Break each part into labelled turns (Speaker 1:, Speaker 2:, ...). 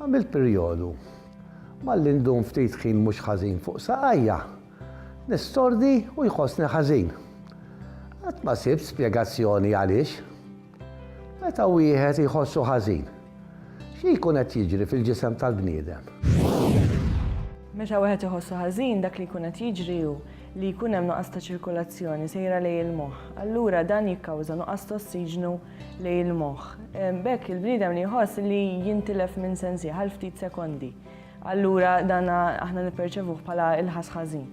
Speaker 1: Għamilt perjodu. Malli ndum ftit ħin mhux ħażin fuq saqajja, nistordi u jħossni ħażin. Qatt ma sibt spjegazzjoni għaliex. Meta wieħed iħossu ħażin, xi jkun qed jiġri fil-ġisem tal-bniedem?
Speaker 2: Meta wieħed iħossu ħażin, dak li jkun qed jiġri hu li jkun hemm nuqqas ta' ċirkulazzjoni sejra lejn il-moħħ. Allura dan jikkawża nuqqas ta' ossiġnu lejn il-moħħ. B'hekk il-bniedem li jħoss li jintilef minn sensih għal ftit sekondi. Allura dan aħna nipperċevuh bħala il-ħass ħażin.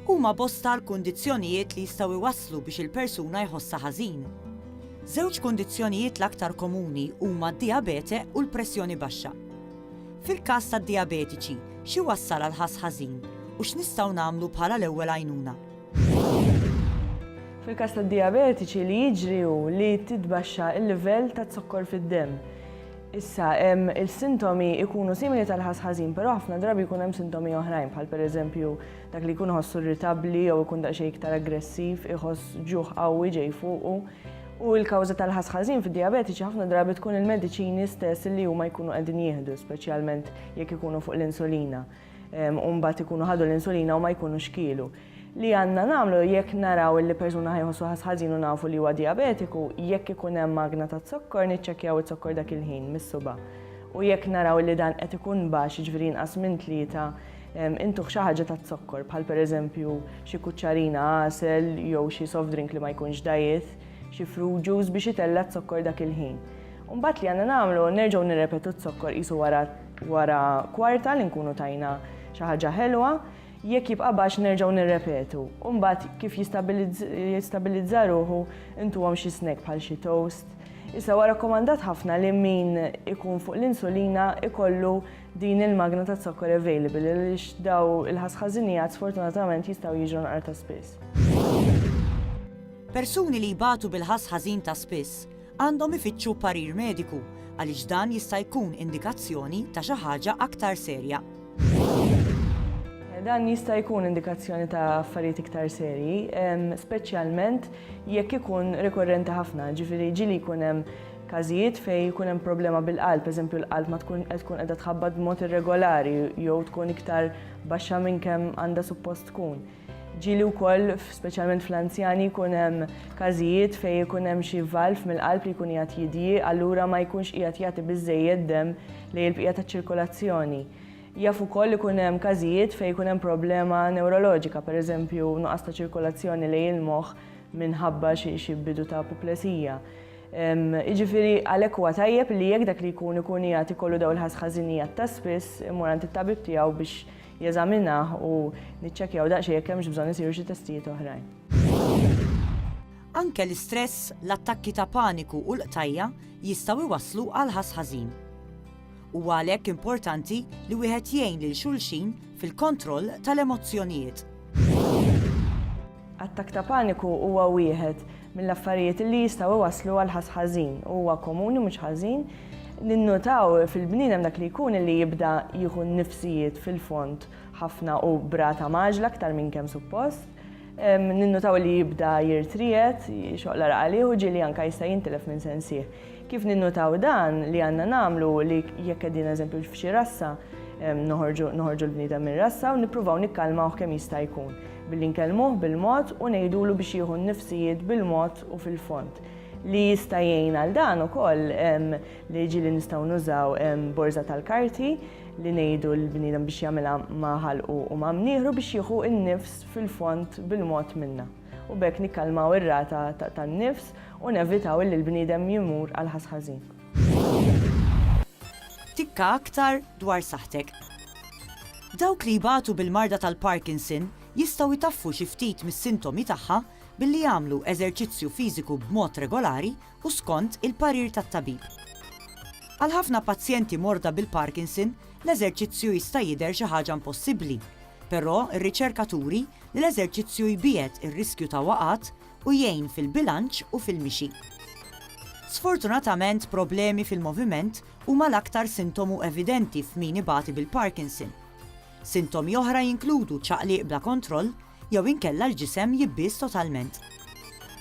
Speaker 3: Huma bosta l-kundizzjonijiet li jistgħu jwasslu biex il-persuna jħossha ħażin. Żewġ kundizzjonijiet l-aktar komuni huma d-dijabete u l-pressjoni baxxa. Fil-każ tad-dijabetiċi, xi wassal għal ħass ħażin u x'nistgħu nagħmlu bħala l-ewwel għajnuna?
Speaker 2: Fil-każ tad-dijabetiċi li jiġri hu li titbaxxa l-livell taz-zokkor fid-demm. Issa, il-sintomi jkunu simili tal-ħass ħażin, però ħafna drabi jkun hemm sintomi oħrajn bħal pereżempju dak li jkun iħossu irritabbli jew ikun daqsxejn iktar aggressiv, iħoss ġuħ qawwi ġej fuqu. U l-kawża tal-ħass ħażin fid-dijabetiċi ħafna drabi tkun il-mediċini stess li huma jkunu qegħdin jieħdu, speċjalment jekk ikunu fuq l-insulina. u mbagħad ikunu ħadu l-insulina u ma jkunux kielu. Li għandna nagħmlu jekk naraw li persuna ħajħossu ħass ħażin u nafu li huwa dijabetiku, jekk ikun hemm magna taz-zokkor niċċekkjaw iz-zokkor dak il-ħin mis-suba'. U jekk naraw li dan qed ikun baxx jiġifieri inqas minn tlieta, intuh xi ħaġa taz-zokkor bħal pereżempju xi kuċċarina għasel jew xi soft drink li ma jkunx dajjith, xi fruit juice biex itella' z-zokkor dak il-ħin. U mbagħad li għandna nagħmlu nerġgħu nirrepetu z-zokkor qisu wara Wara kwarta li nkunu tajna xi ħaġa ħelwa, jekk jibqa' baxx nerġgħu nirrepetu u mbagħad kif jistabilizza ruħu intuhom xi snack bħal xi toast. Issa huwa rakkomandat ħafna li min ikun fuq l-insulina ikollu din il-magna taz-zokkor available għaliex daw il-ħasħażinijat sfortunatament jistgħu jiġu nqar ta' spiss.
Speaker 3: Persuni li jbatu bil-ħass ħażin ta' spiss għandhom ifittxu parir mediku għaliex dan jista' jkun indikazzjoni ta' xi ħaġa aktar serja.
Speaker 2: Dan jista' jkun indikazzjoni ta' affarijiet iktar serji, speċjalment jekk ikun rikorrenti ħafna, ġifieri ġieli jkun hemm każijiet fejn jkun hemm problema bil-qalb, eżempju l-qalb ma tkun qed tkun qiegħda tħabbat b'mod irregolari jew tkun iktar baxxa minn kemm għandha suppost tkun. Ġieli wkoll, speċjalment fl-anzjani, jkun hemm każijiet fejn ikun hemm xi valv mill-qalb li jkun qiegħed jidjiq, allura ma jkunx qiegħed jagħti biżżejjed demm lejn il-bqija taċ-ċirkolazzjoni. Jaf ukoll ikun hemm każijiet fejn ikun hemm problema newroloġika, pereżempju nuqqas ta' ċirkolazzjoni lejn il-moħħ minħabba xi bidu ta' apoplesija. Jiġifieri għalhekk huwa tajjeb li jekk dak li jkun ikun qiegħed ikollu dawn il-ħażħażinijet ta' spiss imur għand it-tabib tiegħu biex jeżaminah u niċċekkjaw daqsxejn jekk hemmx bżonn isiru xi testijiet oħrajn.
Speaker 3: Anke l-istress, l-attakki ta' paniku u l-qtajja' jistgħu jwasslu għal ħass ħażin. Huwa għalhekk importanti li wieħed jgħin lil xulxin fil-kontroll tal-emozzjonijiet.
Speaker 2: Attakk ta' paniku huwa wieħed mill-affarijiet li jistgħu jwasslu għal ħass ħażin u huwa komuni mhux ħażin ninnutaw fil-bniedem dak li jkun li jibda jieħu n-nifsijiet fil-fond ħafna u b'rata mgħaġġla aktar minn kemm suppost. Ninnutaw li jibda jirtried, xoqla raqalih u ġieli anke jista' jintilef minn sensih. Kif ninnutaw dan li għandna nagħmlu li jekk qegħdin eżempju f'xi rassa noħorġu l-bniedem mir-rassa u nippruvaw nikkalmawh kemm jista' jkun billi nkellmuh bil-mod u ngħidulu biex jieħu n-nifsijiet bil-mod u fil-fond. Li jista' jgħin għal dan ukoll li ġieli nistgħu nużaw borża tal-karti li ngħidu lill-bniedem biex jagħmilha ma' ħalqu u ma' mnieħru biex jieħu n-nifs fil-fond bil-mod minna. u b'hekk nikkalmaw ir-rata tan-nifs u nevitaw li l-bniedem jmur għal ħass ħażin.
Speaker 3: Tikka aktar dwar saħħtek. Dawk li jbatu bil-marda tal-Parkinson jistgħu jtaffu xi ftit mis-sintomi tagħha billi jagħmlu eżerċizzju fiżiku b'mod regolari u skont il-parir tat-tabib. Għal ħafna pazjenti morda bil-Parkinson, l-eżerċizzju jista' jidher xi ħaġa impossibbli, Però, ir-riċerka turi li l-eżerċizzju jbiegħed ir-riskju ta' waqgħat u jgħin fil-bilanċ u fil-mixi. Sfortunatament, problemi fil-moviment huma l-aktar sintomu evidenti f'min ibati bil-Parkinson. Sintomi oħra jinkludu ċaqliq bla kontroll jew inkella l-ġisem jibbies totalment.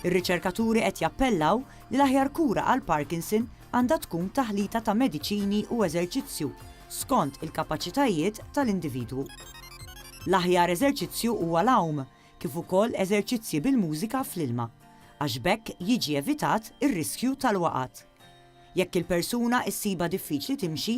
Speaker 3: Ir-riċerkaturi qed jappellaw li l-aħjar kura għall-Parkinson għandha tkun taħlita ta' mediċini u eżerċizzju skont il-kapaċitajiet tal-individwu. L-aħjar eżerċizzju huwa l-għawm, kif ukoll eżerċizzji bil-mużika fl-ilma, għax b'hekk jiġi evitat ir-riskju tal-waqgħat. Jekk il-persuna issibha diffiċli timxi,